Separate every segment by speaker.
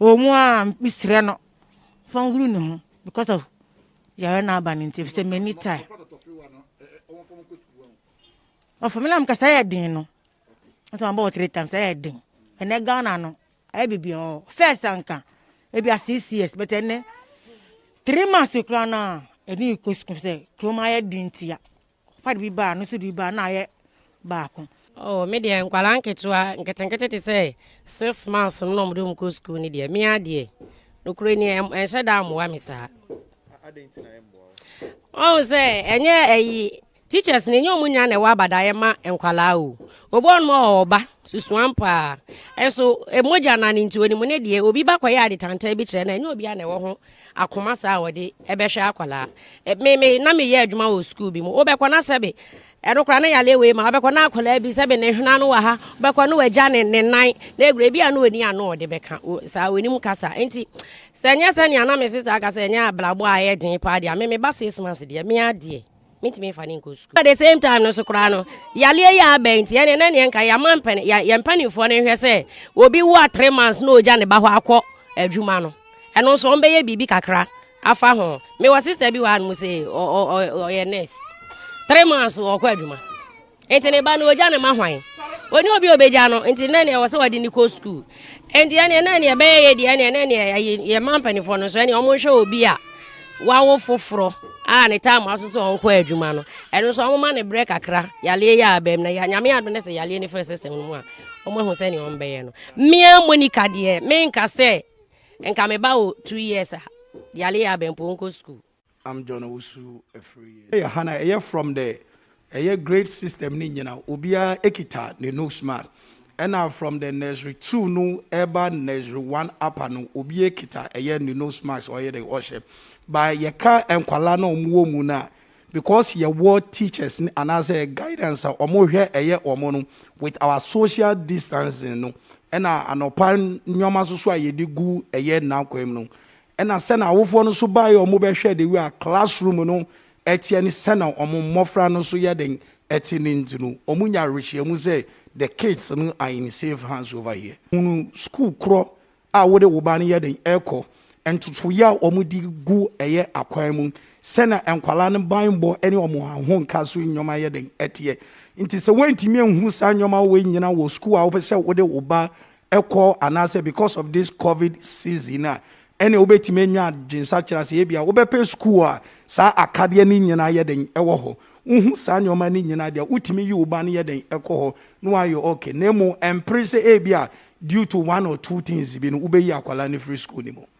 Speaker 1: Ɔwɔ mu a mesrɛ no fa nhuru ne ho because of yare no aba no nti ɛfisɛ m'ani tae ɔfa me na mekasa yɛ den no nso mabɔ wɔ three times ɛyɛ den ɛnɛ ghana no ayɛ biribi ɔ first anka ebi a six years but ɛnɛ three months koraa no a ɛne kɔ sukuu sɛ kurom ayɛ den ntia Ɔpapa de bi baa, no nso de bi baa, na ayɛ baako. Oh, me deɛ nkwadaa
Speaker 2: nketewa nketenkete te sɛ six months no na wɔde wɔn kɔ sukuu no deɛ, me ara deɛ nokorɛ ni ɛnhyɛ da mmoa me saa.
Speaker 3: Ɔhu sɛ
Speaker 2: ɛnyɛ ɛyi teachers no ɛnyɛ wɔn nyinaa na ɛwɔ abadaeɛ ma nkwadaa o. Obi ɔnom a ɔba susuam paa nso mogya na ne nti onimu ne deɛ obi ba kɔyɛ adetantaa bi kyerɛ na ɛnyɛ obiara na ɛwɔ ho akoma saa a wɔde bɛhwɛ akwadaa. E, me me na meyɛ adwuma wɔ sukuu bi mu. Wobɛkɔ na sɛbe ɛno koraa ne yale wei ma wobɛkɔ na akwadaa bi sɛbe ne hwena no wɔ ha wobɛkɔ ne wagya ne ne nan na ekura ebi a na oni ano ɔde bɛka saa onim kasa nti sɛ nyɛ sɛ nea na me sista aka sɛ nyɛ abrabɔ a ɛyɛ den paa deɛ me me ba six months deɛ me adeɛ. mentumi mfa ne nkɔ sukuu. At the same time no so koraa no, yareɛ yɛ abɛn nti ɛne na neɛ nka yɛama mpani yɛn mpanimfoɔ no nhwɛ sɛ obi wo a three months na ɔgya ne ba hɔ akɔ adwuma no ɛno nso wɔn bɛyɛ biribi kakra afa ho. Mewɔ sister bi wɔ hanom sɛ ɔyɛ nurse three months ɔkɔ adwuma. Enti ne ba no ogya ne ma hwan? Ɔni obi a obegya no, nti na neɛ ɛwɔ sɛ wɔde ne kɔ sukuu. Enti ɛneɛ na neɛ ɛbɛyɛ yɛ deɛ ɛneɛ na neɛ yɛma mpanimfoɔ no nso ɛneɛ wɔn nhwɛ obi a wawo foforɔ a ne time aso sɛ wɔn kɔ adwuma no. Ɛno nso wɔn ma ne brɛ kakra yaleɛ yɛ abam na nyame adom ne sɛ yaleɛ ne fɛ system no mu a wɔn ahu sɛ neɛ wɔn bɛyɛ no. Mmea Monica deɛ menka sɛ nka me ba wɔ two years a yaleɛ yɛ abam po nkɔ sukuu. I'm John Owusu
Speaker 3: Afriyie. Ɛyɛ ha na ɛyɛ from the ɛyɛ grade system ne nyina obiara ekita ne nose mark ɛna from the nursery two no ɛba nursery one apa no obi ekita ɛyɛ ne nose marks ɔyɛ de ɔhyɛ ba yɛka nkwala na wɔn wɔ mu na because yɛwɔ teachers ne anaasɛ guidance a wɔn hwɛ ɛyɛ wɔn no with our social distancing no ɛna anɔpa nneɛma soso a yɛde gu ɛyɛ nakwan mu no Ɛna sɛ na awofoɔ no nso baeɛ a wɔbɛhwɛ the way a class room no teɛ ne sɛna wɔn mmɔfra no nso yɛden te no nti no wɔn nya awerɛhyiamu sɛ the kids no are in safe hands over here. Hunu sukuu korɔ a wode wo ba no yɛden rekɔ, ntotoeɛ a wɔn de gu ɛyɛ akwan mu, sɛna nkwadaa no banbɔ ne wɔn ahonka so nneɛma yɛden teɛ. Nti sɛ woantumi anhunu saa nneɛma wei nyina wɔ sukuu a wopɛ sɛ wode wo ba kɔ anaasɛ because of this covid season a ɛne wobɛtumi anya adwensakyera sɛ ebia wobɛpɛ sukuu a saa akadeɛ no nyinaa yɛ dɛn ɛwɔ hɔ wohu saa nneɛma no nyinaa deɛ wotumi yi wo ba no yɛ dɛn ɛkɔ hɔ na wayɛ okay na mmom ɛmpere sɛ ebia due to one or two things bi no wobɛyi akwadaa no firi sukuu no mu.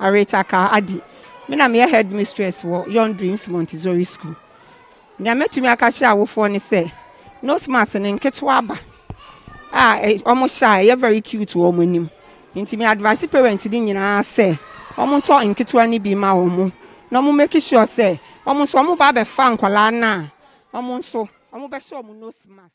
Speaker 4: Aretha
Speaker 5: Kah Addy, Me na meyɛ headmistress wɔ Young Dreams Montessori School. Nea mɛtumi aka kyerɛ awofoɔ ne sɛ, nose mask no nketewa aba a eh, wɔhyɛ a ɛyɛ very cute wɔ wɔn anim. Nti me advice parent no nyinaa sɛ, wɔntɔ nketewa no bi ma wɔn na wɔn make sure sɛ Wɔn nso wɔn ba bɛfa nkwadaa no a wɔn nso wɔn bɛhyɛ wɔn nose mask.